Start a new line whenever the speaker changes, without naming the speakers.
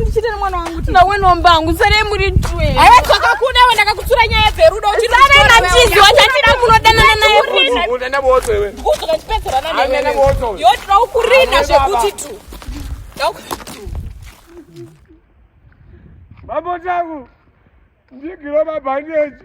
ndichite nemwana wangu nawe nomba wangu sarei
muri twe aiwa twakakuda we
ndakakutsura nyaya dzerudo sarei machizi
wachatira kunodanana naye
yotira
ukurina
zvekuti tu
babo tangu ndigiro mabhandeji